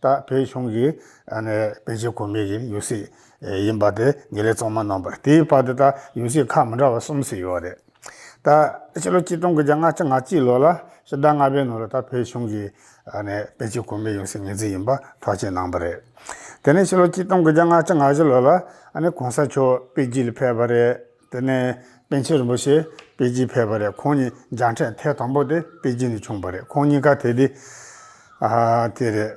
ད་བོད་གཞུང་གི་དཔེ་ཆའི་གོ་མི་གི་ཡུལ་སྲིད་ཡིན་པ་དེ་ཉི་ལེ་ཚོགས་མ་གནང་པར་དེའི་བར་དུ་ད་ཡུལ་སྲིད་ཁག་མི་འདྲ་བ་གསུམ་ཟིག་ཡོད་རེད། ད་ཕྱི་ལོ་གཅིག་སྟོང་དགུ་བརྒྱ་ང་གཅིག་ང་གཅིག་ལོ་ལ་ཕྱི་ཟླ་ལྔ་པའི་ནང་ལ་ད་བོད་གཞུང་གི་དཔེ་ཆའི་གོ་མི་ཡུལ་སྲིད་ངེས་ཚིག་ཡིན་པ་ཐག་བཅད་གནང་པ་རེད། དེ་ནས་ཕྱི་ལོ་གཅིག་སྟོང་དགུ་བརྒྱ་ང་གཅིག་ང་བཞི་ལོ་ལ་གོང་ས་མཆོག་པེ་ཅིན་ལ་ཕེབས་པ་རེད། དེ་ནས་པན་ཆེན་རིན་པོ་ཆེ་པེ་ཅིན་ཕེབས་པ་རེད་ཁོང་ཉིད་འཇང་ཕྲན་ཐེ་དང་པོ་དེ་པེ་ཅིན་དུ་བྱུང་བ་རེད་ཁོང་གཉིས་ཀ་དེ་དུས་དེ་རེད།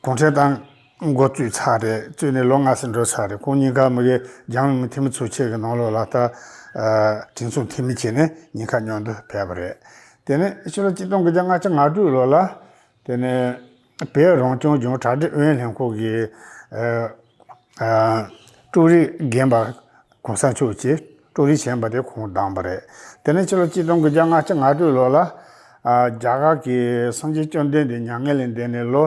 གུང་ཁྲན་ཏང་མགོ་བཙུགས་ཚར་རེད་བཙུགས་ནས་ལོ་ལྔ་ཟིན་འགྲོ་ཚར་རེད་ཁོང་གཉིས་ཀ་མི་གེ་འཇང་ལུང་མི་འཐུས་མི་ཚུགས་ཆེད་ཀྱི་ནང་ལོགས་ལ་ལྟ་དྲིན་ཚུགས་འཐུས་མི་བྱས་ནས་ཉིན་ཁ་སྙོག་འདོད་ཕེབས་པ་རེད། དེ་ནས་ཕྱི་ལོ་གཅིག་སྟོང་དགུ་བརྒྱ་ལྔ་བཅུ་ང་དྲུག་ལོ་ལ་དེ་ནས། བོད་རང་སྐྱོང་ལྗོངས་གྲ་སྒྲིག་ཨུ་ཡོན་ལྷན་ཁང་གི་ཀྲུའུ་རིན་རྒན་པ་གོང་ས་མཆོག་ཅེས་ཀྲུའུ་རིན་བྱས་པ་དེ་ཁོང་བདམས་པ་རེད། དེ་ནས་ཕྱི་ལོ་གཅིག་སྟོང་དགུ་བརྒྱ་ང་གཅིག་ང་དྲུག་ལོར་ལ་རྒྱ་གར་གྱི་སངས་རྒྱས་བཅོམ་ལྡན་འདས་མྱ་ངན་ལས་འདས་ནས་ལོ་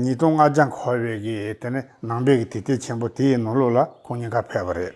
ཉིས་སྟོང་ལྔ་བརྒྱ་འཁོར་བའི་གི་དེ་ནས་ནང་པའི་གི་དུས་དེབ་ཆེན་པོ་དེའི་ནང་ལུགས་ལ་ཁོང་ཉིན་ཁ་ཕེབས་པ་རེད།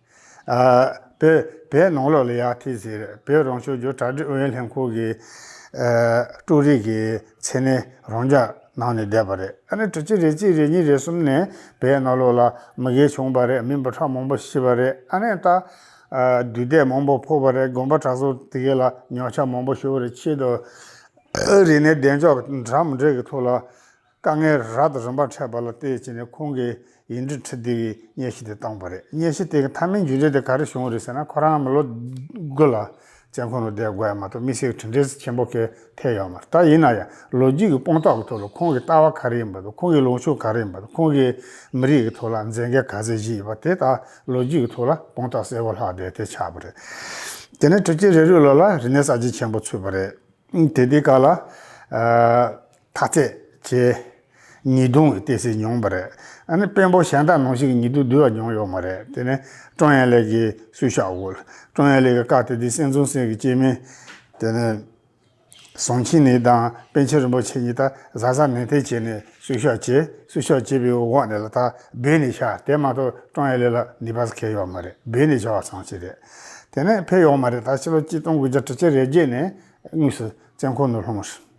བོད་ནང་ལོགས་ལ་ཡག་ཐིག་ཟེར་བོད་རང་སྐྱོང་ལྗོངས་གྲ་སྒྲིག་ཨུ་ཡོན་ལྷན་ཁང་གི། ཀྲུའུ་རིག་གི་མཚན་གནས་རང་འཇགས་གནང་ནས་བསྡད་པ་རེད་ཨ་ནི་དྲུག་གཅིག་རེ་གཅིག་རེ་གཉིས་རེ་གསུམ་ནས་བོད་ནང་ལོགས་ལ་མི་དགེ་བྱུང་པ་རེད་མི་འབུ་ཕྲག་མང་པོ་ཤི་བ་རེད་ཨ་ནི་ད། དུས་དེབ་མང་པོ་ཕོག་པ་རེད་དགོན་པ་གྲྭ་ཚང་དེ་གའི་ལ་ཉོག་ཆ་མང་པོ་ཤོར་བ་རེད་ཕྱིས་དུ། ཨ་རི་ནས་བདེ་མཆོག་གྲམ་འབྲས་ཀྱི་ཐོག་ལ། དཀའ་ངལ་རག་ཏུ་རིམ་པར་འཕྲད་པ་ལ་བལྟས་ཕྱིན་ནས་ཁོང་གིས་ཡིག་འབྲི་འཕྲི་བདེ་བའི་སྙན་ཞུ་དེ་བཏང་བ་རེད་སྙན་ཞུ་དེ་གི་མཐའ་མའི་མཇུག་འབྲས་དེ་ག་རེ་བྱུང་བ་རེད་ཟེར་ན་ཁོ་རང་ངམ་ལོ་དགུ་ལ་བཙན་ཁང་དུ་བསྡད་དགོས་ཡ་མ་གཏོགས་མི་སེར་གྱི་དྲིན་འབྲས་ཆེན་པོ་གས་ཐད་ཡོད་མ་རེད་ད་ཡིན་ན་ཡང་ལོ་རྒྱུས་ཀྱི་དཔང་རྟགས་ཀྱི་ཐོག་ལ་ཁོང་གི་ལྟ་བ་ག་རེ་ཡིན་པ་དང་ཁོང་གི་ལོངས་ཕྱོགས་ག་རེ་ཡིན་པ་དང་ཁོང་གིས་མི་རིགས་ཀྱི་ཐོག་ལ་མཛད་འགན་ག་ཚད་བཞེས་ཡོད་པ་དེ་དག་ལོ་རྒྱུས་ཀྱི་ཐོག་ལ་དཔང་རྟགས་གསལ་བོ་ལྷག་བསྡད་ཐལ་ཆགས་པ་རེད། དེ་ནས་དྲུག་བརྒྱད་རེ་རེའི་ལོ་ལ་རིག་གནས་གསར་བརྗེ་ཆེན་པོ་ཚུད་པ་རེད། དེ་དུས་ག་ལ། ཐག་ཚད། བྱས། ཉིས་སྟོང་གི་ལྟེ་སྲིད་མྱོང་པ་རེད། ཨ་ནི་དཔོན་པོ་གཞན་དག་ནང་བཞིན་གྱི་ཉིས་སྟོང་བསྡུ་བ་མྱོང་ཡོད་མ་རེད་དེ་ནི། ཀྲོང་ཡན་ལེགས་ཀྱིས་སུས་ཤ་བོལ། ཀྲོང་ཡན་ལེགས་ཀྱི་བཀའ་དེ་དུས་སེང་ཙུང་སེང་གི་སྐྱེས་དམན། དེ་ནི། ཟོང་ཆིན་ནི་དང་པན་ཆེན་རིན་པོ་ཆེ་གཉིས་ད་གཟའ་གཟའ་ནན་ཐེ་བྱས་ནས་སུས་ཤ་བྱས་སུས་ཤ་བྱས་པའི་འོག་ནས་ལ་དྭགས་སྦེད་ནས་ཤ་དེ་མ་གཏོགས་ཀྲོང་ཡན་ལེགས་ལ་ནི་བ་ས་ཁེ་ཡོད་མ་རེད་སྦེད་ནས་ཤ་བ་ཚང་ཞིག་རེད། དེ་ནི་ཕེབས་ཡོད་མ་རེད་ད་ཕྱི་ལོ་གཅིག་སྟོང་དགུ་བརྒྱ་དྲུག་ཅུ་རེ་བརྒྱད་ནས་དངོས་སུ་བཙན་ཁོག་ནུབ་ལྷོ་མ་ཧྲི།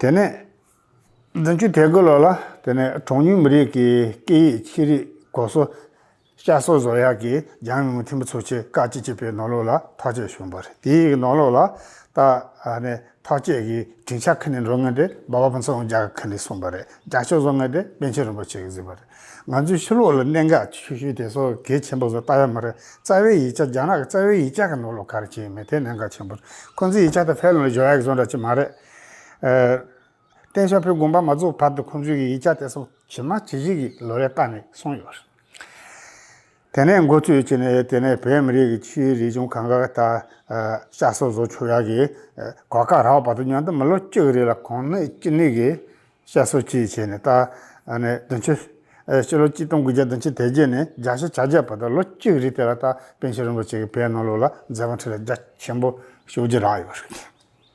དེ་ནས། བདུན་ཅུ་ཐལ་དགུ་ལོ་ལ་དེ་ནས་གྲངས་ཉུང་མི་རིགས་ཀྱི་སྐད་ཡིག་ཆེ་རིགས་གོ་སོ། ཤ་སོ་བཟོ་ཡག་གི་རྒྱང་རིང་མོ་འཐིམ་པོ་ཚུགས་ཆེད་བཀའ་སྤྱི་གཅིག་པའི་ནོར་ལུག་ལ་ཐག་བཅད་བྱུང་བ་རེད་དེའི་ནོར་ལུག་ལ་ད་ནས་ཐག་བཅད་གི་དྲིན་ཆ་ཁ་ནས་འགྲོ་ངེས་ཏེ་འབའ་བ་ཕུན་ཚོགས་རྒྱ་གར་ཁ་ནས་གསུངས་པ་རེད་རྒྱ་ཕྱོགས་བཟོ་ངེས་ཏེ་པན་ཆེན་རིན་པོ་ཆེ་གི་གཟིགས་པ་རེད་ང་ཚོའི་ཕྱི་ལུགས་ལ་གནད་འགག་ཆུ་ཤུལ་དེ་ཚོ་གལ་ཆེན་པོ་བཟོ་ལྟ་ཡ་མ་རེད་རྩ་བའི་ཡིག་ཆ་རྒྱ་ནག་གི་རྩ་བའི་ཡིག་ཆ་གི་ནོར་ལུག་ག་རེ་བྱས་ཡོད་མེད་དེ་གནད་འགག་ཆེན་པོ་རེད་ཁོང་ཚོའི་ཡིག་ཆ་དང་ཕལ་ལོ་ལོ་བཞོ་ཡག་བཟོ་འདྲ་ཅི་མ་རེད། བརྟེན་ཤ་ཕོའི་དགོན་པ་མ་རྫོགས་བར་དུ་ཁོང་ཚོའི་ཡིག་ཆ་དེ་ཚོ་ཇི་མ་ཇི་བཞིན་གྱི་ལོ་རེ་བཏགས་ནས་སོང་ཡོད་རེད། དེ་ནས་མགོ་ཚོས་ཅི་ནས་དེ་ནས་བོད་མི་རིགས་ཀྱི་ཕྱིའི་རིག་གཞུང་གང་དགར་ད་ཤ་སོ་བཟོ་ཆོག་ཡག་གི་གོ་སྐབས་རག་བར་དུ་ཉོན་དུ་མི་ལོ་བཅུ་རེ་ལ་གོང་ནས་ཅི་ནས་གི་ཤ་སོ་བཅས་བྱས་ནས་ད་ནས་བདུན་ཅུ། སྤྱི་ལོ་གཅིག་སྟོང་དགུ་བརྒྱ་བདུན་ཅུ་དེ་རྗེས་ནས་རྒྱ་ཤ་བྱ་རྒྱག་བར་དུ་ལོ་གཅིག་རེ་དེ་ལ་ད་པན་ཆེན་རིན་པོ་ཆེ་གི་བན་ནོ་ལོ་ལ་མཛད་པ་འཁྲི་ལ་རྒྱ་ཆེན་པོ་ཞུ་རྒྱུ་རག་ཡོད་རེད།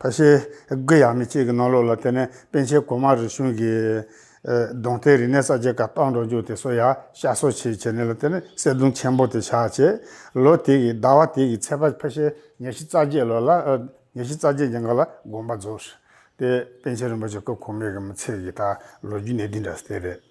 ཕ་ཤེལ་སྒོས་ཡག་མི་གཅིག་གི་ནང་ལོགས་ལ་བལྟས་ནས་སྤེན་ཆེན་གོང་མ་རི་ཆུང་གིས། གདོང་ཐལ་རིག་གནས་གསར་བརྗེ་ཀ་པང་འགྲོ་འཇུག་དེ་སོ་ཡ་ཤ་སོ་བྱེད་བྱེད་ནས་ལ་བལྟས་ནས་གསེར་གདུང་ཆེན་པོ་དེ་ཕྱག་བྱས། ལོ་དེ་གི་ཟླ་བ་དེ་གི་ཚེས་པ་ཕ་ཤེལ་ཉེར་བཞི་རྩ་བརྒྱད་ལོ་ལ། ཉེར་བཞི་རྩ་བརྒྱད་ཀྱི་འགོ་ལ་དགོངས་པ་རྫོགས། དེ་སྤེན་ཆེན་རིན་པོ་ཆེ་སྐུ་གོང་མའི་གི་མི་ཚེ་གི་ད་ལོ་རྒྱུ་གནས་འདི་འདྲ་སྟེ་རེད།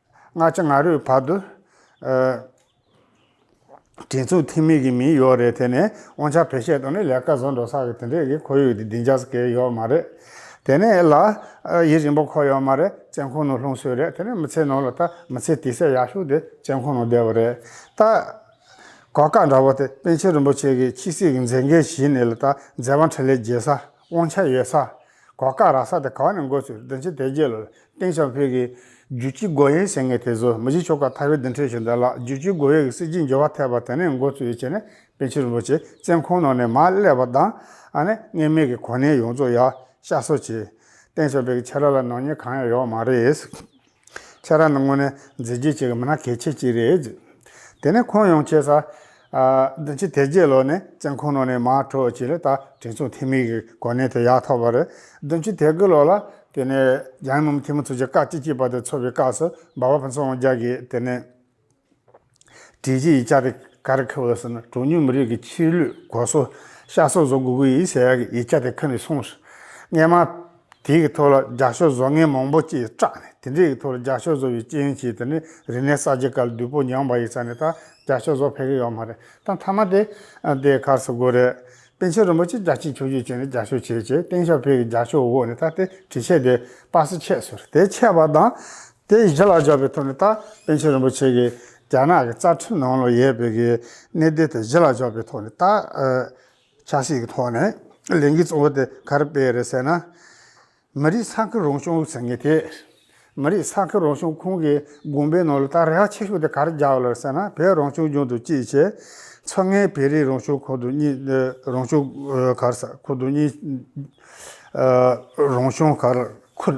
སྔ་ཕྱི་ང་རོའི་བར་དུ། དྲིན་ཚོང་ཐིག་མེད་ཀྱི་མིང་ཡོག་རེད་དེ་ནས་དབང་ཆ་བེད་སྤྱད་དང་ནི་ལས་ཀ་བཟོ་འགྲོ་ས་གི་དེ་འདྲས་ཀྱི་ཁོར་ཡུག་དེ་སྡིངས་ཆ་ཀྱི་ཡོག་མ་རེད། དེ་ནས་ལ། ཡིད་རིང་པོ་ཁོ་ཡོག་མ་རེད་བཙན་ཁོང་ནང་ལྷུང་སོད་རེད་དེ་ནས་མི་ཚེ་ནང་ལ་ད་མི་ཚེ་དེ་སད་ཡག་ཤོག་དེ་བཙན་ཁོང་ནང་བསྡད་པ་རེད་ད། གོ་བཀག་འདྲ་བོ་དེ་པན་ཆེན་རིན་པོ་ཆེ་གི་ཁྱི་སྲིད་ཀྱི་མཛད་འགན་བཞིན་ནས་ལ་ད་མཛད་བང་ཁྲི་ལས་བརྒྱལ་ས། དབང་ཆ་ཡོད་ས། གོ་སྐབས་རག་ས་དེ་ག་བ་ནས་འགོ་ཚུགས་བདེན་ཆེན་དེ་རྗེས་ལོ་སྟེང་ཆང་ཕུད་ཀྱི། རྒྱུད་སྤྱི་སྒོ་ཡན་ཟེར་ངེས་དེ་ཚོ་མི་བཞི་ཆོ་ག་མཐའ་བའི་བདུན་ཁྲི་བཞི་ཟླ་ལགས་རྒྱུད་སྤྱི་སྒོ་ཡན་གྱི་སྲིད་སྤྱི་འབྱོར་བ་ཐེག་པ་དེ་ནས་འགོ་ཚུགས་ཡོད་ཅེས་ནས་པན་ཆེན་རིན་པོ་ཆེ་བཙན་ཁང་ནང་ནས་མ་བསླེབས་པ་དང་ཨ་ནེ་ངེས་མེད་ཀྱི་གོ་གནས་ཡོངས་རྫོགས་ཡག་ཤ་གསོ་བྱས། སྟེང་ཆང་ཕུད་ཀྱི་ཆེ་ར་ལ་ནོར་ཉེས་གང་ཡང་ཡོག་མ་རེད། ཁྱེད་རང་ནི་དངོས་གནས་མཛད་རྗེས་ཅན་གྱི་མི་སྣ་གལ་ཆེ་ཅིག་རེད། དེ་ནས་ཁོང་ཡོང་ཆེ་ས། བདུན་ཕྱི་དེ་རྗེས་ལོ་ནས་བཙན་ཁུག་ནང་ནས་མ་འཕྲོག་ཅིག་ལ་ད་དྲིན་ཚོང་ཐེངས་མེད་ཀྱི་གོ་གནས་དེ་ཡག་ཐོབ་པ་རེད། བདུན་ཕྱི་དེ་གི་ལོ་ལ། དེ་ནས་རྒྱ་ཡི་མུ་མཐིང་མུ་ཚུར་གྱི་བཀའ་སྤྱི་གཅིག་པ་དེ་འཚོ་བའི་སྐབས་སུ་འབའ་བ་ཕུན་ཚོགས་དབང་རྒྱལ་གྱིས་དེ་ནས། དྲིལ་བསྒྲིགས་ཡིག་ཆ་དེ་གར་ཁེལ་བ་ཟེར་ན་གྲངས་ཉུང་མི་རིགས་ཀྱི་ཕྱིར་ལུས་སྒོ་སྲོག་ཤ་སོགས་བཟོ་དགོས་ཀྱི་ཡིན་ཟེར་ཡག་གི་ཡིག་ཆ་དེ་ཁ་ནས་སོང་ཞིག། རྔན་མ། དེ་གི་ཐོག་ལ་རྒྱ་ཤོག་བཟོ་མཁན་མང་པོ་སྐྱེས་སྐྲག་ནས་དེ་འདྲས་ཀྱི་ཐོག་ལ་རྒྱ་ཤོག་བཟོ་བའི་རྐྱེན་གྱིས་དེ་ནས་རིག་གནས་གསར་བརྗེ་སྐབས་བདུད་པོ་མྱངས་པ་ཡི་ས་ནས་ད་རྒྱ་ཤོག་བཟོ་ཕེབས་ཀྱི་ཡོད་མ་རེད་ད་མཐའ་མ་དེ་དེ་གར་བཟོ་དགོས་རེད། པན་ཆེན་རིན་པོ་ཆེས་རྒྱ་ཆེའི་ཁྱོ་བརྒྱུད་བྱས་ནས་རྒྱ་ཤོག་བྱས་རྗེས་སྟེང་ཞབས་བེ་གི་རྒྱ་ཤོག་འོག་ནས་ད་དེ་དྲིལ་ཆས་དེ་པར་སི་ཆས་ཟེར་དེ་ཆས་པ་དང། དེ་ཡི་གཞི་ལ་འཇོག་པའི་ཐོག་ནས་ད་པན་ཆེན་རིན་པོ་ཆེ་གིས་རྒྱ་ནག་གི་རྩ་ཁྲིམས་ནང་ལ་ཡོད་པའི་གི་གནད་དོན་དེ་གཞི་ལ་འཇོག་པའི་ཐོག་ནས་ད། ཆབ་སྲིད་ཀྱི་ཐོག་ནས་ལས་འགུལ་གཙོ་བོ་དེ་ག་རེ་སྤེལ་རེད་ཟེར་ན། མི་རིགས་ས་ཁུལ་རང་སྐྱོང་ཟེར་མཁན་དེས། མི་རིགས་ས་ཁུལ་རང་སྐྱོང་ཁོངས་ཀྱི་དགོངས་པའི་ནང་ལ་ད་རེ་བ་ཆེ་ཤོས་དེ་ག་རེ་བརྒྱག་ཡོད་རེད་ཟེར་ན་བོད་རང་སྐྱོང་ལྗོངས་དང་གཅིག་བྱས། མཚོ་སྔའི་བོད་རིགས་རང་སྐྱོང་ཁོངས་དང་གཉིས། རང་སྐྱོང་གར་ས་ཁུལ་དང་གཉིས། རང་སྐྱོང་གར་ཁུལ།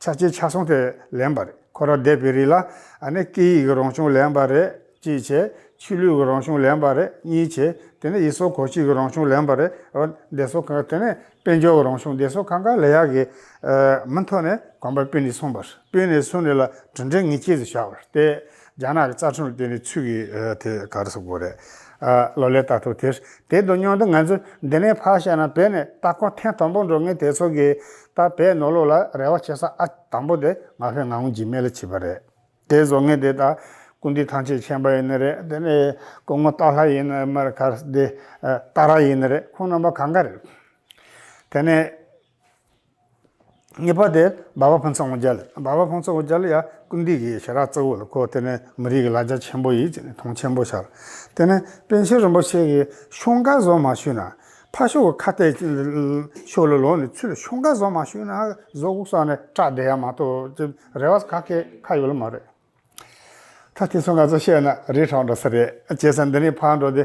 ཆ་ཆེ་ཆ་སོང་དེ་ལེན་པ་རེད་ཁོ་ར་བསྡད་པའི་རིགས་ལ་ཨ་ནི་སྐད་ཡིག་གི་རང་བྱུང་ལེན་པ་རེད་གཅིག་བྱས་ཆོས་ལུགས་ཀྱི་རང་བྱུང་ལེན་པ་རེད་གཉིས་བྱས་དེ་ནི་ཡིག་སོགས་གོ་ཆིག་གི་རང་བྱུང་ལེན་པ་རེད་རོ་འདེད་སོགས་གང་དེ་ནི་དཔལ་འབྱོར་གྱི་རང་བྱུང་འདེད་སོགས་གང་གང་ལས་ཡག་གི་མི་མཐོ་ནས་གོམ་པ་སྤོས་ནས་གསུངས་པ་སྤོས་ནས་གསུངས་ནས་ལ་གྲུ་འབྲེལ་ངེས་ཁྱེད་ཚོས་བྱ་བར་བལྟས་རྒྱ་ནག་གི་རྩ་ཁྲིམས་ལ་བརྟེན་པའི་ཚུལ་གྱིས་དེ་ག་རེ་ཟེར་དགོས་རེད། ལོ་ལེགས་ལྟ་ཐུབ་དེར་དེ་དོན་སྙིང་དུ་ང་ཚོས་འདི་ནས་ཕར་བཤད་ན་བོད་ནས་ལྟ་སྐོར་ཐེངས་དང་པོ་འགྲོ་མཁན་དེ་ཚོ་གིས་ད་བོད་ནོར་ལུག་ལ་རེ་བ་བྱེད་ས་ཨ་དང་པོ་དེ་ང་ཕོད་ངང་འཇིགས་མེད་ལ་བྱིས་པ་རེད། དེ་བཟོ་མཁན་དེ་དག་ཀུན་འདུས་ཐང་ཆད་མཁྱེན་པ་ཡིན་ནི་རེད་དེ་ནས་སྐུ་ངོ་སྟག་ལྷ་ཡིན་ནི་མར་ཁ་སྡེ་སྟག་ར་ཡིན་ནི་རེད་ཁོང་རྣམ་པ་གང་ག་རེད། དེ་ནས། གཉིས་པ་དེ་འབའ་བ་ཕུན་ཚོགས་དབང་རྒྱལ། འབའ་བ་ཕུན་ཚོགས་དབང་རྒྱལ་ཡང་ཀུན་འདུས་ཀྱི་ཞལ་ར་གཙོ་བོ་ལ་གོ། དེ་ནི་མི་རིགས་ཀྱི་ལ་རྒྱ་ཆེན་པོ་ཡིན་ཅེས་མཐོང་ཆེན་པོ་ཤར། དེ་ནི་པཎ་ཆེན་རིན་པོ་ཆེ་གིས་ཤོག་འགའ་བཟོ་མ་ཞུས་ན། ཕ་ཤོག་གི་ཁ་གཏད་ཤོག་ལ་ལོག་ནས་ཚུར་ལ་ཤོག་འགའ་བཟོ་མ་ཞུས་ན་བཟོ་དགོས་ས་ནི་སྐྲག་བསྡད་ཡ་མ་གཏོགས་ཅི་རེ་བ་ག་གེ་ཁ་ཡོད་ལ་མ་རེད། ད་དེ་ཚོ་ང་ཚོས་བཤད་ན་རི་བྲག་འགྲོ་ས་རེད། བྱས་ཙང་འདི་ནས་ཕར་འགྲོ་དེ།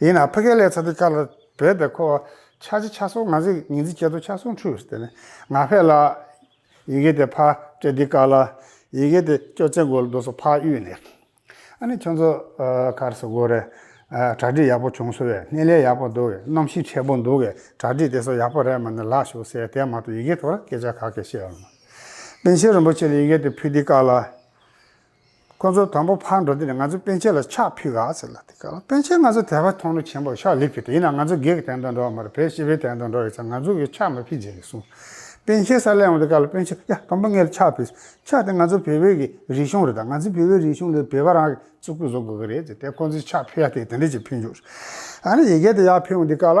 ཡིན་ནའང་ཕ་གི་ལས་ཚ་དེ་དཀར་ལ་བོད་པའི་ཁོ་བོ་ཆ་གཅིག་ཆ་སོང་ང་ཟིག་ཉིན་རྩིས་བྱེད་དོ་ཆ་སོང་ཁྲུས་དེ་ནས་ང་ཕེ་ལ། ཡི་གེ་དེ་ཕ་སྤྲེལ་འདི་དཀར་ལ། ཡི་གེ་དེ་ཅོ་ཙེ་མགོ་ལ་འདུག་སོ་ཕ་གཡུལ་ནས། ཨ་ནི་ཁྱོད་ཚོ་གར་སོ་དགོས་རེད། གྲ་སྒྲིག་ཡག་པོ་བྱུང་སོ་བས་སྣེ་ལེན་ཡག་པོ་འདུག་གནམ་གཤིས་འཁྲེགས་པོ་འདུག་གས་གྲ་སྒྲིག་དེ་ཚོ་ཡག་པོ་རེད་མ་ནི་ལག་ཞུགས་ཟེར་དེ་མ་གཏོགས་ཡི་གེ་དོར་སྐད་ཆ་ག་གེ་བཤད་ཨོ། པན་ཆེན་རིན་པོ་ཆེ་ལ་ཡི་གེ་དེ་ཕུ་འདི་དཀར་ལ། ཁོ་ཚོ་དང་པོ་ཕར་འགྲོ་དུས་ནས་ང་ཚོ་སྤེན་ཆེན་ལ་ཕྱག་ཕུལ་ག་ཟེར་ལ་དེ་སྐབས་ལ་སྤེན་ཆེན་ང་ཚོ་དད་པ་མཐོང་ནུས་ཆེན་པོར་ཕྱག་ལེབ་ཕུལ་ཏེ་ཡིན་ནའང་ང་ཚོ་བགེགས་གི་གདན་དུ་འགྲོ་བ་མ་རེད་བོད་སྤྱི་བའི་གདན་དུ་འགྲོ་བའི་ཚེ་ང་ཚོ་གིས་ཕྱག་མ་ཕུལ་རྗེས་ཀྱི་གསུང། སྤེན་ཆེན་ས་ལས་འོངས་ཏེ་སྐབས་ལ་སྤེན་ཆེན་ཡ་དང་པོ་ངས་ཕྱག་ཕུལ། ཕྱག་དེ་ང་ཚོ་བོད་པའི་གི་རིག་གཞུང་རེད་ད་ང་ཚོའི་བོད་པའི་རིག་གཞུང་ལས་བོད་པ་རང་གི་གཙུག་ཕུད་བཟོ་དགོས་ཀྱི་རེད་ཟེར་ཏེ་ཁོ་ཚོས་ཕྱག་ཕུལ་ཡ་དེ་དེ་འདྲས་ཀྱིས་ཕུལ་འཇུག། ཨ་ནི་ཡི་གེ་དེ་ཡག་ཕུལ་འོངས་དུས་སྐབས་ལ།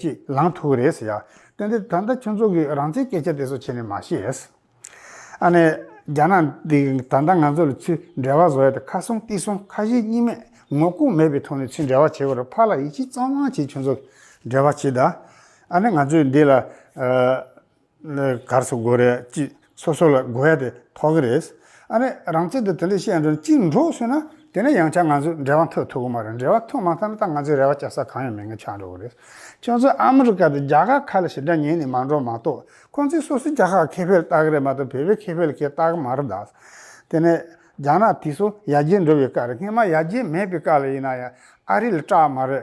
ཅིག་ལངས་ཐུབ་ཀྱི་རེད་ཟེར། དོན་དེ་ད་ལྟ་ཁྱོད་ཚོ་གིས་རང་བཙན་སྐད་ཆ་དེ་ཚོ་བྱས་ནས་མ་ཤེས། ཨ་ནེ། རྒྱ་ནག་འདི་གིས་ད་ལྟ་ང་ཚོ་ལ་ཚུལ་འབྲེལ་བ་བཟོ་ཡ་དེ་ཁ་སྲུང་ལྟི་སྲུང་ཁ་ཞེ་གཉིས་མེད་ངོ་ལྐོག་མེད་པའི་ཐོག་ནས་ཚུལ་འབྲེལ་བ་བྱེད་དགོས་ར་ཕར་ལ་ཡིད་ཆེས་གཙང་མ་བྱེད་ཁྱོད་ཚོ་འབྲེལ་བ་བྱེད་ད། ཨ་ནེ་ང་ཚོས་འདི་ལ། གར་སོ་དགོས་རེད་ཅེས་སོ་སོ་ལ་དགོས་ཡ་དེ་ཐོག་གི་རེད། ཨ་མས་རང་བཙན་དུ་དེ་འདྲ་བཤད་འགྲོ་ན་གཅིག་འགྲོ་ཟེར་ན་དེ་ནས་ཡང་བསྐྱར་ང་ཚོས་འབྲེལ་བ་འཐོལ་ཐུབ་ཀྱི་མ་རེད་འབྲེལ་བ་འཐོལ་མ་ཐག་ན་ད་ང་ཚོས་རེ་བ་བཅའ་ས་གང་ཡང་མེད་ངེས་ཆགས་འགྲོ་གི་རེད། ཁྱོད་ཚོས་ཨ་མི་རི་ཀ་དང་རྒྱ་གར་ཁ་ལ་ཞེ་དྲག་ཉན་ནས་མ་འགྲོ་མ་གཏོགས་ཁོང་ཚོས་སོ་སོའི་རྒྱ་ཁག་ཁེ་ཕེ་ལ་ལྟ་གི་རེད་མ་གཏོགས་བོད་པའི་ཁེ་ཕེ་ལ་ཁས་བཏགས་ཀྱི་མ་རེད་ད། དེ་ནས་རྒྱ་ནག་དེ་ཚོ་ཡར་རྒྱས་འགྲོ་བའི་སྐབས་རེད་སྔོན་མ་ཡར་རྒྱས་མེད་པའི་སྐབས་ལ་ཡིན་ན་ཡང་ཨ་རི་ལ་སྐྲག་མ་རེད་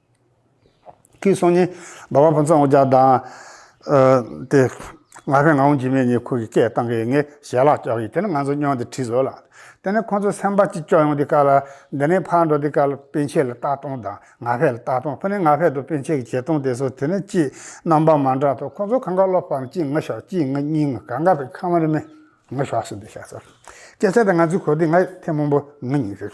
ཁོའི་སང་ཉིན་སྦ་བ་ཕུན་ཚོགས་ངོ་རྒྱ་དང། དེ། ང་ཕན་ང་འོང་འཇིགས་མེད་གཉིས་ཁོ་གི་སྐད་བཏང་གི་ངས་ཞལ་ལག་བཀྱགས་ཡིན་དེ་ནི་ང་ཚོ་སྨྱོན་ཏེ་ཁྲིད་བཟོ་ལ། དེ་ནས་ཁོ་ཚོ་སེམས་པ་གཅིག་ལྕོགས་ཡོང་དེ་ཀ་ལ། འདི་ནས་ཕར་འགྲོ་དེ་ཀ་ལ་སྤེན་ཆེད་ལ་རྟགས་སྟོང་དང་ང་ཕལ་ལ་རྟགས་སྟོང་ཁོ་ནས་ང་ཕལ་དུ་སྤེན་ཆེད་ཀྱི་བྱེད་སྟོང་དེ་སོ་དེ་ནས་ཅི། རྣམ་པ་མ་འདྲ་ཐོ་ཁོ་ཚོ་གང་ག་སློབ་པའམ་ཅི་ང་ཤོག་ཅི་ང་གཉིས་ང་ག་འགའ་བའི་ཁ་མ་རི་མེ། ང་ཤོག་སོ་དེ་ཤ་སོ། སྐད་ཆ་དེ་ང་ཚོའི་གོ་དེ་ང་ཐེ་མོང་པོ་ང་གཉིས་ཟེར།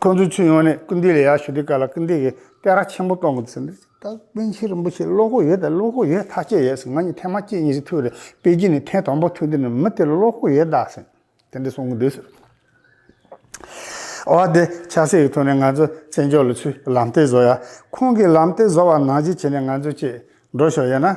ཁོ་ཚོའི་ཚུར་ཡོང་ནས་སྐུལ་འདེད་ལ་ཡར་ཞུ་དུས་ཀ་ལ་སྐུལ་འདེད་ཀྱི་སྟེགས་ར་ཆེན་པོ་གཏོང་དགོས་ཟེར། ད་པཎ་ཆེན་རིན་པོ་ཆེས་བློ་ཁོག་ཡོད་ད་བློ་ཁོག་ཡོད་ཐག་བཅད་ཡོད་ཟེར་ང་གཉིས་ཐེངས་མ་གཅིག་གཉིས་གཅིག་ཐུག་རེད་པེ་ཅིན་ནས་ཐེངས་དང་པོ་ཐུག་དུས་ནས་མི་དེར་བློ་ཁོག་ཡོད་ད་ཟེར། དེ་འདྲ་གསུང་གི་འདུག་ཟེར། འོ་དེ་ཆགས་སྲེད་ཀྱི་ཐོག་ནས་ང་ཚོ་བཙན་བྱོལ་ལ་ཆུ་ལམ་སྟེགས་བཟོ་ཡ་ཁོང་གིས་ལམ་སྟེགས་བཟོ་བ་ནང་བཞིན་བྱས་ནས་ང་ཚོ་བཅས་འགྲོ་ཤོག་ཡིན་ན།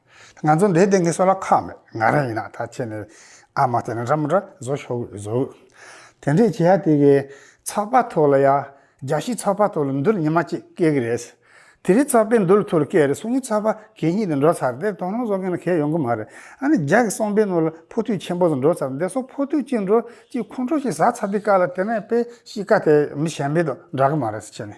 ང་ཚོ་འདིའི་སྟེང་གི་སོ་ལ་ཁག་མེད་ང་རང་ཡིན་ན་ད་ཁྱེད་ནི་ཨ་མ་དེ་ན་འདྲ་མོ་འདྲ་བཟོ་ཤོག་བཟོ། དེ་འདྲས་བྱས་ཡ་དེ་གི་ཚགས་པ་ཐོག་ལ་ཡ་རྒྱ་ཤིག་ཚགས་པ་ཐོག་ལ་འདུལ་ཉི་མ་གཅིག་སྐྱེལ་གི་རེད། དེ་རིང་ཚགས་པས་འདུལ་ཐུར་སྐྱེལ་རེད་སོང་ངས་ཚགས་པ་གད་སྙིགས་དེ་འགྲོ་ཚར་དེར་དོ་སྣང་བཟོ་མཁན་ལ་གད་ཡོང་གི་མ་རེད་ཨ་ནི་རྒྱ་གི་གསོང་པའི་ནོར་ལ་ཕོ་ཐུད་ཆེན་པོ་ཟེར་འགྲོ་ཚར་འདེ་སོགས་ཕོ་ཐུད་གཅིག་འགྲོ་གཅིག་ཁོང་ཁྲོ་ཞིག་ཟ་ཚར་དེ་ཀ་ལ་དེ་ནས་དཔེ་གཤིས་ཀ་དེ་མི་གཞན་པའི་དོ་འདྲ་གི་མ་རེད་ཁྱེད་ནི།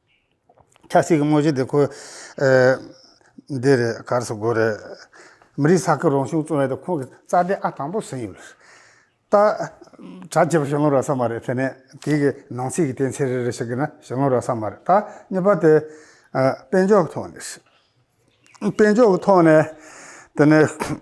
ཆབ་སྲིད་ཀྱི་དངོས་གཞི་དེ་ཁོའི། འདི་རེད་གར་སོ་དགོས་རེད། མི་རིགས་ས་ཁུལ་རང་བྱུང་བཙོན་འོད་དེ་ཁོང་གི་རྩ་འགྲེལ་ཨ་དང་པོར་ཟིན་ཡོད་རེད། ད། གྲ་ཇི་བ་ཞུ་ལོང་རག་ས་མ་རེད་དེ་ནས་དེ་གི་ནང་ཚིག་གི་གཏན་ཚིག་རེ་རེ་ཞིག་གི་ན་ཞུ་ལོང་རག་ས་མ་རེད་ད་གཉིས་པ་དེ། དཔེ་འཇོག་གི་ཐོག་ནས་རེད། དཔེ་འཇོག་གི་ཐོག་ནས་དེ་ནས།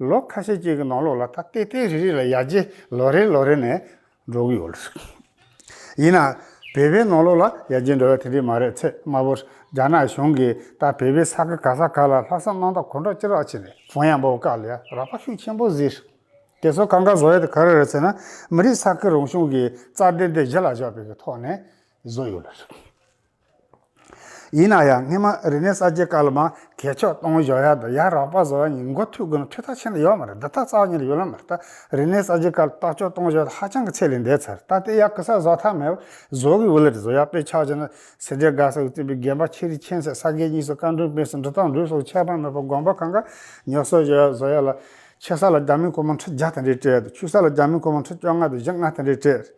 ལོ་ཁ་ཤས་ཅིག་གི་ནང་ལོགས་ལ་ད་ལྟའི་ལྟའི་རེ་རེ་ལ་ཡར་རྒྱས་ལོ་རེ་ལོ་རེ་ནས་འགྲོ་གི་ཡོད་རེད། ཡིན་ནའང་བོད་པའི་ནང་ལོགས་ལ་ཡར་རྒྱས་འགྲོ་བ་དེ་འདྲས་མ་རེད་ཚེ་སྔ་བོར་རྒྱ་ནག་གཞུང་གིས་ད་བོད་པའི་ས་ག་ག་ས་ག་ལ་ལྷག་བསམ་གནང་སྟངས་གོ་འདྲ་ཅི་རག་བྱས་ནས་བོང་ཡང་འབོག་བཀག་ལས་རག་པ་ཤུགས་ཆེན་པོ་བཟོས་རེད། དེ་ཚོ་གང་ག་བཟོ་ཡ་དེ་ག་རེ་རེད་ཟེར་ན་མི་རིགས་ས་ཁུལ་རང་གཞུང་གི་རྩ་འགྲེལ་དེ་གཞི་ལ་བཞག་པའི་གི་ཐོག་ནས་བཟོ་ཡོད་རེད། ཡིན་ན་ཡང་སྔོན་མ་རི་ནས་ས་སྐྱའི་བཀའ་སློབ་མ་གས་ཕྱོགས་གཏོང་བཞོག་ཡག་དང་ཡག་རག་པ་བཟོ་བ་ཉིན་འགོ་ཐུག་གི་ནོ་འཕྲུལ་ཐག་ཆེན་ལ་ཡོག་མ་རེད་འདི་དག་རྩ་བ་ཉིད་ལ་ཡོད་ལོ་མ་རེད་ད་རི་ནས་ས་སྐྱའི་བཀའ་སློབ་ཕྱོགས་གཏོང་བཞོག་ཧ་ཅང་གི་ཚད་ལས་འདས་ཚར་རེད་ད་དེ་ཡག་གི་ས་བཟོ་ཐག་མེད་བཟོ་གི་འོད་ལ་རེད་བཟོ་ཡག་དཔེ་ཆགས་ཆེ་ན་སེ་འབྲས་དགའ་ས་གི་བཙུན་པའི་རྒན་པ་ཁྱེད་རིགས་མཁྱེན་ཚད་ས་སྐྱའི་གཉིས་སུ་བཀའ་འགྲོན་སྤེན་སུ་འདྲི་སྟངས་འགྲུས་སོགས་ཁྱད་པར་མེད་པ་དགོངས་པ་གང་ག་ཉོག་བཟོ་བཞོག་ཡག་བཟོ་ཡག་ལ། ཆེ་ས་ལ་རྒྱ་མི་གོ་མང་ཁྲི་བརྒྱ་དང་རེ་བྲལ་དུ་ཆུ་ས་ལ་རྒྱ་མི་གོ་མང་ཁྲི་བཅོ་ལྔ་དང་བཞི་ལྔ་དང་རེ་བྲལ།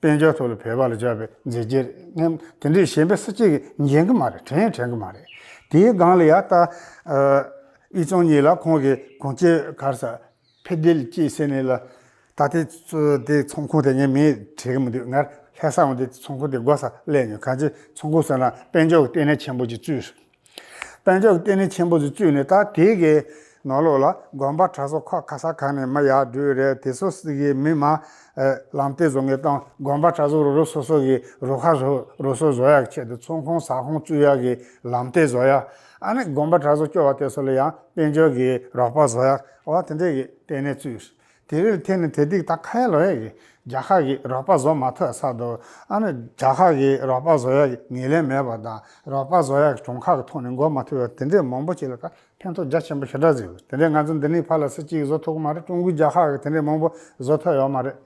དཔལ་འབྱོར་ཐོག་ལ་བོད་པ་ལ་བཅག་པའི་མཛད་རྗེས་རེད་སྙམ། དེ་འདྲའི་ཞེན་པའི་སྲིད་སྐྱེས་ཀྱི་འགྱིང་གི་མ་རེད་དྲན་ཡང་དྲན་གི་མ་རེད། དེའི་སྒང་ལ་ཡང་ལྟ། དབྱི་ཚོང་གཉིས་ལ་ཁོང་གི་གོང་ཆེ་གར་ས། ཕེ་དེལ་སྐྱིད་ཟེར་ནི་ལ། ད་དེ་དེ་ཚོང་ཁུངས་དེ་ངས་མིང་དྲན་གི་མི་འདུག་སྔར་ལྷས་ས་འོང་དེ་ཚོང་ཁུངས་དེ་སྒོ་ས་གླས་ནས་གང་ཅི་ཚོང་ཁུངས་ཟེར་ན་དཔལ་འབྱོར་གྱི་ལྟེ་གནས་ཆེན་པོ་ཅིག་བཙུགས་སོང། དཔལ་འབྱོར་བསྟི་གནས་ཆེན་པོ་ཟུར་བཅུ་ནས་ད་དེ་གའི་ནོར་ལུག་ལ་དགོན་པ་གྲྭ་ཟོ་ཁག་ག་ས་གང་ནས་མི་ཡག་སྦྲུལ་རལ་དེ་ཚོ་སི་གའི་མི་དམངས་ལམ་སྟེ་བཟོ་ངེས་དང་དགོན་པ་གྲྭ་ཟོ་རུ་རུ་སོ་སོ་གི་རུ་ཁག་ཟོ་རུ་སོ་བཟོ་ཡག་ཆེད་དུ་ཚོང་ཁང་ཟ་ཁང་བཙུགས་ཡག་གི་ལམ་སྟེ་བཟོ་ཡག་ཨ་ནི་དགོན་པ་གྲྭ་ཟོ་སྐྱོ་བ་དེ་ཚོ་ལ་ཡང་དཔལ་འབྱོར་གི་རོགས་པ་བཟོ་ཡག་བ་དེ་འདྲས་ཀྱི་ལྟེ་གནས་བཙུགས། དེ་རེར་ཐད་ནས་དེ་དིག་ད་ཁ་ཡ་ལོ་ཡ་གི་རྒྱ་ཁག་གི་རོགས་པ་བཟོ་མ་ཐོས་ས་དུ་ཨ་ནི་རྒྱ་ཁག་གི་རོགས་པ་བཟོ་ཡ་གི་ངེས་ལེན་མེད་པ་དང་རོགས་པ་བཟོ་ཡ་གི་གྲོང་ཁག་གི་ཐོག་ནས་འགོ་མ་ཐུ་བ་དེ་འདྲས་མང་པོ་ཅིག་ལ་ཁ་ཕན་ཐོག་རྒྱ་ཆེན་པོ་ཞེ་དྲག་ཟིག་ཡོད་དེ་འདྲས་ང་ཚོ་འདི་ནས་ཕར་ལ་སི་གཅིག་བཟོ་ཐུག་གི་མ་རེད་ཀྲུང་གོའི་རྒྱ་ཁག་གི་དེ་འདྲས་མང་པོ་བཟོ་ཐུ་ཡོད་མ་རེད།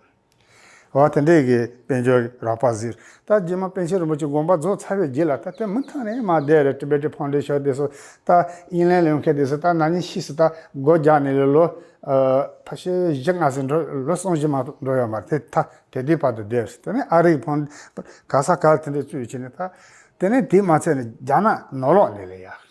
འོ་དེ་འདྲའི་གི་དཔལ་འབྱོར་གི་རགས་པ་ཟིག་ད་རྗེས་མ་པཎ་ཆེན་རིན་པོ་ཆེ་དགོངས་པ་རྫོགས་ཚར་བའི་རྗེས་ལ་ད་དེ་མི་ཐང་རེད་མ་བསྡད་རེད Tibetan Foundation དེ་སོ་ད་དབྱིན་ལན་ལོན་མཁན་དེ་སོ་ད་ནང་ཉིན་ཤིས་སུ་ད་སྒོ་རྒྱག་ནས་ལོ་ཕ་ཤེ་བཞི་ལྔ་ཟིག་འགྲོ་ལོ་གསུམ་བཞི་མ་འགྲོ་ཡོད་མ་རེད་ད་དེ་དུས་བར་དུ་བསྡད་སོ་དེ་ནས་ཨ་རིག་ཕོང་ག་ས་ག་ལ་དེ་འདྲའི་བཙུད་བྱས་ནས་ད་དེ་ནས་དེ་མ་ཚད་ནས་རྒྱ་ནག་ནོར་ལོག་ལས་ལས་ཡག།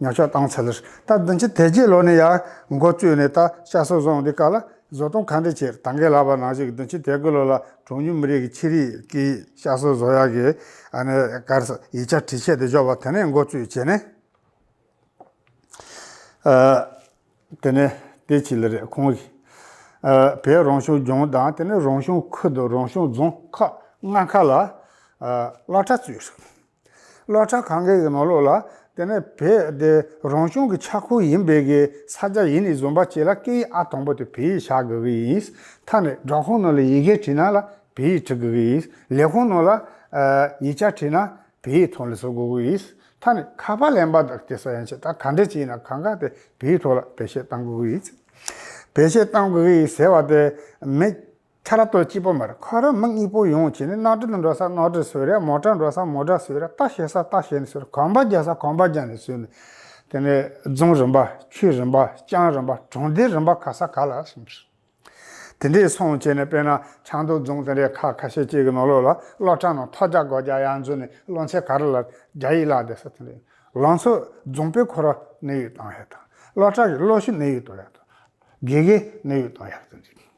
ཉག་ཆོག་བཏང་ཚར། ད་བདུན་ཕྱི་དལ་གྱི་ལོ་ནས་ཡར་མགོ་བཅུས་ནས་ད་ཤ་སོ་བཟང་འདི་ཀ་ལ་བཟོ་གཏོང་ག་འདྲས་བྱེད་ད་འགས་ལབ་པ་ནང་བཞིན་བདུན་ཕྱི་དལ་གྱི་ལོ་ལ་གྲོང་མྱུལ་མི་རིགས་ཀྱི་ཁྱི་རིགས་ཀྱི་ཤ་སོ་བཟོ་ཡག་གི་ཨ་ནེ་ཀར་ས་ཡིག་ཆ་བྲི་ཆས་དེ་འཇོག་པ་དེ་ནས་མགོ་བཅུས་བྱས་ནས། དེ་ནས་དེ་ཕྱི་ལ་རེད་ཁོང་གིས། བོད་རང་བྱུང་ལྗོངས་དང་དེ་ནས་རང་བྱུང་ཁུལ་དུ་རང་བྱུང་རྫོང་ཁག་ལྔ་ཁག་ལ་བླ་གྲྭ་བཙུགས། སློག་ཆ་གང་གི་གི་མ་སློག་ལ། དེ་ནས་བེ་དེ་རང་བྱུང་གི་ཆགས་ཁུ་ཡིན་བེ་གི་ས་ཆ་ཡིན་ནི་བཟོ་འབ་བྱེད་ལ་སྐད་ཡིག་ཨ་དང་པོ་དེ་བེ་ཡིག་བྱ་དགོས་གི་ཡིན། མཐའ་ནས་སྦྲག་ཁོང་ནང་ལ་ཡི་གེ་བྲིས་ན་ལ་བེ་ཡིག་བྲི་དགོས་གི་ཡིན། ལས་ཁོང་ནང་ལ། ཡིག་ཆ་བྲིས་ན་བེ་ཡིག་ཐོག་ལ་བཟོ་དགོས་གི་ཡིན། མཐའ་ནས་ཁ་པར་ལེན་པ་དང་དེ་ས་ཡན་ཆད་ད་ག་འདྲེ་ཅིག་ཡིན་ན་གང་ག་དེ་བེ་ཡིག་ཐོག་ལ་བེ་བཤད་གཏང་དགོས་གི་ཡིན། བེ་བཤད་གཏང་དགོས་གི་ཡིན་ཟེར་བ་དེ་མེད། ཁྲ་ར་སྟོད་སྤྱི་པོ་མར་ཁ་ར་མིག་གཉིས་པོ་ཡོངས་བྱས་ནས་རྣག་དྲི་འདྲ་ས་རྣག་དྲི་ཟོས་ར་མོ་ཁྲ་འདྲ་ས་མོ་ཁྲ་ཟོས་ར་རྟ་ཞེ་ས་རྟ་ཞེ་ནས་ཟོས་ར་གོམ་པ་རྒྱག་ས་གོམ་པ་རྒྱག་ནས་ཟོས་ནས། དེ་ནས་རྫོང་རིམ་པ་ཆུས་རིམ་པ་ཅང་རིམ་པ་གྲོང་སྡེ་རིམ་པ་ག་ས་ག་ལ་སོང་ཟེར། དེ་འདྲས་སོང་བྱས་ནས་དཔེར་ན་ཆང་མདོ་རྫོང་དེ་འདྲས་ཁ་ཁ་ཤས་ཅིག་གི་ནོར་ལོག་ལ་སློབ་གྲ་ནང་ཐོག་བརྒྱ་གོ་བརྒྱ་ཡར་འཛུལ་ནས་སློབ་ཚན་ག་ར་ལ་རྒྱ་ཡིག་བཀླགས་བསྡད་ས་དེ་འདྲས་ལང་ཚོ་རྫོང་དཔེ་ཁོ་ར་ནི་ཡིག་གཏོང་ཡག་དང་སློབ་གྲ་གི་སློབ་ཞུ་ནི་ཡིག་གཏོང་ཡག་དང་དགེ་རྒན་ནི་ཡིག་གཏོང་ཡག་དེ་འདྲས།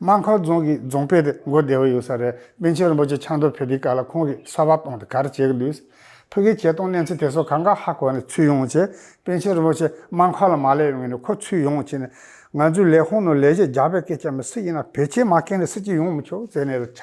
རྨ་ཁ་རྫོང་གིས་རྫོང་དཔེ་དེབ་མགོ་བདེ་བོ་ཡོད་ས་རེད་པཎ་ཆེན་རིན་པོ་ཆེ་ཆང་འདོར་ཕེབས་པའི་སྐབས་ལ་ཁོང་གིས་གསར་བ་གཏོང་དེ་ག་རེ་བྱེད་ཀྱི་འདུག་ཕུགས་ཀྱི་བྱེད་སྟངས་གནས་ཚུལ་དེ་ཚོ་གང་ག་ཧ་གོ་ནས་ཚུད་ཡོང་ཆེད་པཎ་ཆེན་རིན་པོ་ཆེ་རྨ་ཁ་ལ་མ་སླེབས་ཡོང་ནས་ཁོ་ཚུད་ཡོང་ཆེད་ནས་ང་ཚོའི་ལས་ཁུངས་ནང་ལས་གཞི་རྒྱག་པའི་སྐད་ཆ་མི་སྲིད་ཡིན་ན་བེད་སྤྱད་མ་ཁེངས་ནས་སྲིད་ཀྱི་ཡོང་མི་ཆོག་ཟེར་ནས་རེད་ཆ་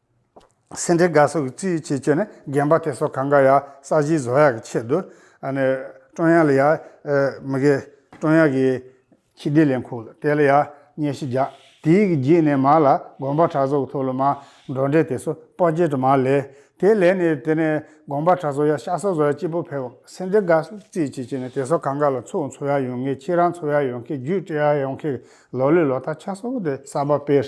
སེ་འབྲས་དགའ་སོགས་ཀྱི་རྩིས་ཡིག་ཆེད་སྤྱོད་ནི་རྒན་པ་དེ་སོགས་གང་གཱ་ཡ་ས་གཞིའི་བཟོ་གཡག་གི་ཆེད་དུ། ཀྲོང་གཡག་ལ་ཡ། མི་དགེ། ཀྲོང་གཡག་གི། ཁྱི་ལྡེ་ལས་འཁུགས་ལ་དེ་ལ་ཡ། སྙལ་ཤི་རྒྱག། དེ་ཡིག་གི་རྒྱུད་ནས་མ་ལ་དགོངས་པ་གྲགས་སོགས་ཀྱི་ཐོག་ལོ་མ། འབྲོག་འབྲས་དེ་སོགས་དཔའ་སྐྱེས་དྲི་མ་ལས། དེ་ལས་ནི་དེ་ནས་དགོངས་པ་གྲགས་སོགས་ཡ་ཤ་སོགས་བཟོ་གཡག་སྐྱིད་པོ་འཕེལ་བ། སེ་འབྲས་དགའ་སོགས་ཀྱི་རྩིས་ཡིག་ཆེད་སྤྱོད་ནི་དེ་སོགས་གང་གཱ་ལ་ཚུགས་འཚོ་གཡག་ཡོང་ངེས་ཁྱེད་རང་འཚོ་གཡག་ཡོང་མཁན་རྒྱུད་སྤྲད་གཡག་ཡོང་མཁན་གྱི་ལོ་ལོའི་ལོ་ཐ་ཆ་སོགས་ཀྱི་སྟེ་གསར་པ་སྤེལ།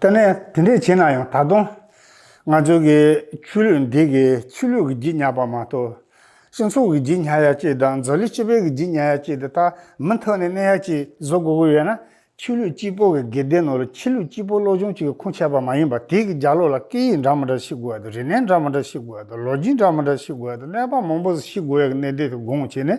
ལྟ་ནས་དེ་འདྲས་བྱས་ན་ཡང་ད་དུང། ང་ཚོའི་གི་ཆུ་ལུད་འདི་གི་ཆུ་ལུད་ཀྱི་བརྗིད་ཉག་པ་མ་གཏོགས། སྤྱི་ཚོགས་ཀྱི་བརྗིད་ཉག་ཡ་གཅིག་དང་མཛོ་ལི་སྤྱི་པའི་གི་བརྗིད་ཉག་ཡ་གཅིག་དེ་དག་མི་མཐོ་ནས་གནས་ཡ་གཅིག་བཟོ་དགོས་ཀྱི་ཡོད་ན། ཆུ་ལུད་སྤྱི་པོ་གི་གི་སྡེ་ནོར་ཆུ་ལུད་སྤྱི་པོ་བློ་ཆུང་གཅིག་གི་ཁུངས་ཆད་པ་མ་ཡིན་པར་དེའི་གི་རྒྱ་ལོ་ལ་སྐད་ཡིག་འདྲ་མི་འདྲ་ཤེས་དགོས་ཡ་དང་རིག་གནས་འདྲ་མི་འདྲ་ཤེས་དགོས་ཡ་དང་ལོ་རྒྱུས་འདྲ་མི་འདྲ་ཤེས་དགོས་ཡ་དང་གནས་བབ་མང་པོ་ཞིག་ཤེས་དགོས་ཡ་གི་གནས་སྡེ་དེ་དགོངས་བྱས་ནས་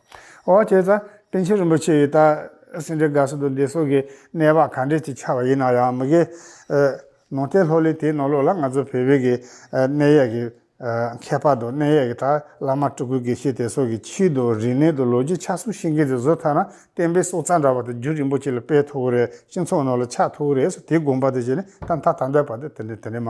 འོ་དེ་ད་པཎ་ཆེན་རིན་པོ་ཆེ་ཡིས་ད་སེང་འབྲས་དགའ་བསུ་དང་བདེ་སོགས་ཀྱི་གནས་བག་ག་འདྲས་ཅིག་ཆགས་པ་ཡིན་ན་ཡང་མི་དགའི། ནང་བསྟན་ལྷོ་གླིང་དེའི་ནང་ལོགས་ལ་ང་ཚོ་བལ་བོད་ཀྱི་གནས་ཡས་ཀྱི་ཁྱད་པར་དང་གནས་ཡས་ཀྱི་དག་བླ་མ་སྤྲུལ་སྐུའི་དགེ་བཤེས་དེ་སོགས་ཀྱི་ཕྱིའི་དང་རིག་གནས་དང་ལོ་རྒྱུས་ཆགས་ཚུལ་ཤེས་མཁན་དེ་བཟོ་ཐག་ན་བསྟན་པའི་སྲོག་རྩ་འདྲ་བ་དེ་རྒྱུ་རིན་པོ་ཆེ་ལ་སྤེལ་ཐུབ་ཀྱི་རེད་སྤྱི་ཚོགས་ནང་ལ་ཆགས་ཐུབ་ཀྱི་རེད་ཟེར་དེའི་དགོངས་པ་དེ་བཞིན་ནས་ད་མཐའ་ད་འདས་བར་དུ་དེ་འདྲའི་དེ་འདྲའི་མ་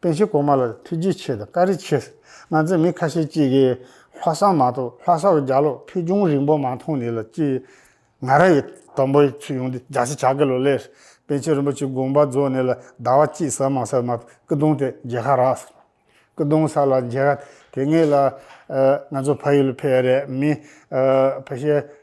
པན་གཞིས་གོང་མ་ལ་ཐུགས་རྗེ་ཆེ་དང་བཀའ་རེ་ཆེ། ང་ཚོ་མི་ཁ་ཤས་ཅིག་གིས་ལྷ་བསང་མ་གཏོགས་ལྷ་སར་རྒྱ་ལོག་ཕུལ་བྱུང་རིང་པོ་མ་མཐོང་ནི་ལ་ཅི། ང་ར་ཡི་དང་པོ་ཡི་ཚུལ་ཡོང་འདི་རྒྱ་ཤི་བྱ་གི་ལོ་ལེ། པན་ཆེན་རིན་པོ་ཆེ་དགོངས་པ་རྫོགས་ནི་ལ་ཟླ་བ་གཅིག་ཟ་མ་ཟ་མ་སྐུ་གདུང་དེ་མཇལ་ཁ་རག་སོང། སྐུ་གདུང་ས་ལ་མཇལ་ཁ་དེ་ངེས་ལ། ང་ཚོ་ཕ་ཡུལ་ཕེ་རེ་མི། ཕ་ཤེ།